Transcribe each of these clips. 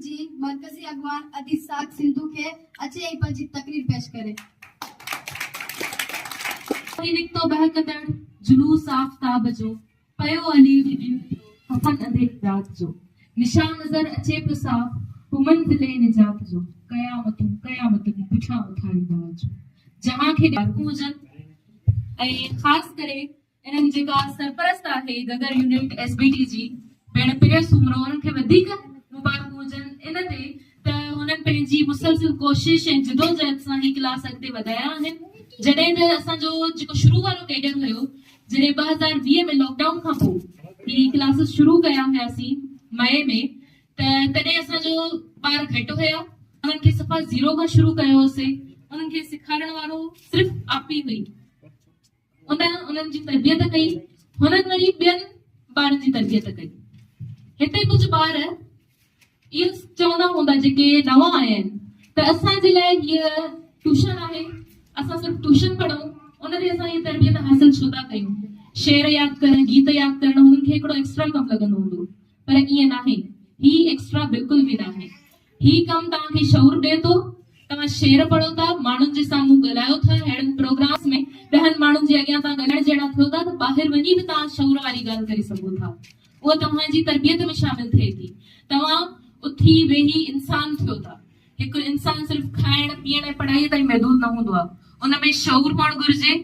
جي مرڪزي اڳواڻ ادي ساک سنڌو کي اچي ۽ پنهنجي تقرير پيش ڪري. ٿي نڪتو ٻهڪندڙ جلوس آفتاب جو، پيو علي جي ڏينهن جو، ڪفن انڌيري رات جو، نشان نظر اچي پيو صاف، هو منزل نجات جو، قيامتون قيامتون پٺيان اٿاري داد جو، جهان کي ڏيارڪون هجن ۽ خاص ڪري انهن جيڪا سرپرست آهي Gaggar unit S B T جي ڀيڻ پريا سومرو انهن کي وڌيڪ مبارڪون هجن ان تي ته هنن پنهنجي مسلسل ڪوشش ۽ جدوجهد سان هي ڪلاس اڳتي وڌايا آهن جڏهن ته اسان جو جيڪو شروع وارو ڪيڊر هيو جڏهن ٻه هزار ويهه ۾ لاڪ ڊائون کان پوء هي ڪلاسز شروع ڪيا هياسين مئي ۾ ته تڏهن اسان جو ٻار گهٽ هيا انهن کي صفا زيرو کان شروع ڪيو هوسين انهن کي سيکارڻ وارو صرف آپي هئي ان انهن جي تربيت ڪئي. هنن وري ٻين ٻارن جي تربيت ڪئي. هتي ڪجهه ٻار اهو چوندا هوندا جيڪي نوان آيا آهن ته اسان جي لاء هيء ٽيوشن آهي، اسان صرف ٽيوشن پڙهون، ان تي اسان هيء تربيت حاصل ڇو ٿا ڪيون؟ شعر ياد ڪرڻ، گيت ياد ڪرڻ هنن کي هڪڙو ايڪسٽرا ڪم لڳندو هوندو پر ائين ناهي. هي ايڪسٽرا بلڪل به ناهي. هي ڪم توهان کي شعور ڏئي ٿو، توهان شعر پڙهو ٿا، ماڻهن جي سامهون ڳالهايو ٿا، ههڙن پروگرامز ۾ ڏهن ماڻهن جي اڳيان توهان ڳالهائڻ جهڙا ٿيو ٿا ته ٻاهر وڃي به توهان شعور واري ڳالهه ڪري سگهو ٿا. اهو توهان جي تربيت ۾ شامل ٿئي ٿي. توهان اٿي ويهي انسان ٿيو ٿا. هڪ انسان صرف کائڻ، پيئڻ ۽ پڙهائيء تائين محدود نه هوندو آهي. ان ۾ شعور هئڻ گهرجي.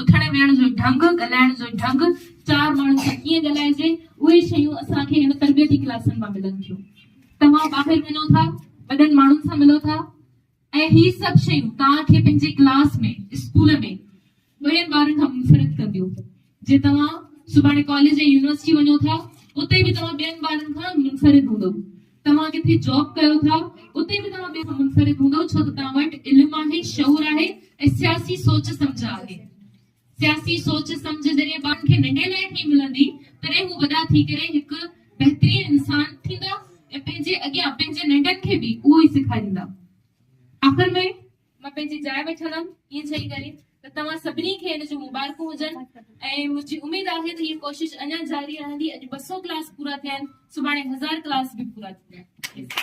اٿڻ ويهڻ جو ڍنگ، ڳالهائڻ جو ڍنگ، چار ماڻهن سان ڪيئن ڳالهائجي، اهي شيون اسان کي هن تربيتي ڪلاسن مان ملن ٿيون. توهان ٻاهر وڃو ٿا، وڏن ماڻهن سان ملو ٿا ۽ هي سڀ شيون توهان کي پنهنجي ڪلاس ۾ اسڪول ۾ ٻين ٻارن کان منفرد ڪنديون. جي توهان سڀاڻي ڪاليج يا يونيورسٽي وڃو ٿا، اتي به توهان ٻين ٻارن کان منفرد هوندؤ. توهان ڪٿي جاب ڪيو ٿا، اتي به توهان ٻين کان منفرد هوندؤ ڇو ته توهان وٽ علم آهي، شعور آهي ۽ سياسي سوچ سمجهه آهي. سياسي سوچ سمجهه ذريعي ٻارن کي ننڍي لاء ٿي ملندي تڏهن هو وڏا ٿي ڪري هڪ بهترين انسان ٿيندا ۽ پنهنجي اڳيان پنهنجي ننڍن کي به اهو ئي سيکاريندا. آخر ۾ مان پنهنجي جاء وٺندم ائين چئي ڪري ته توهان سڀني کي ان جون مبارڪون هجن ۽ منهنجي اميد آهي ته هيء ڪوشش اڃا جاري رهندي اڄ ٻه سؤ ڪلاس پورا ٿيا آهن سڀاڻي هزار ڪلاس به پورا ٿيندا.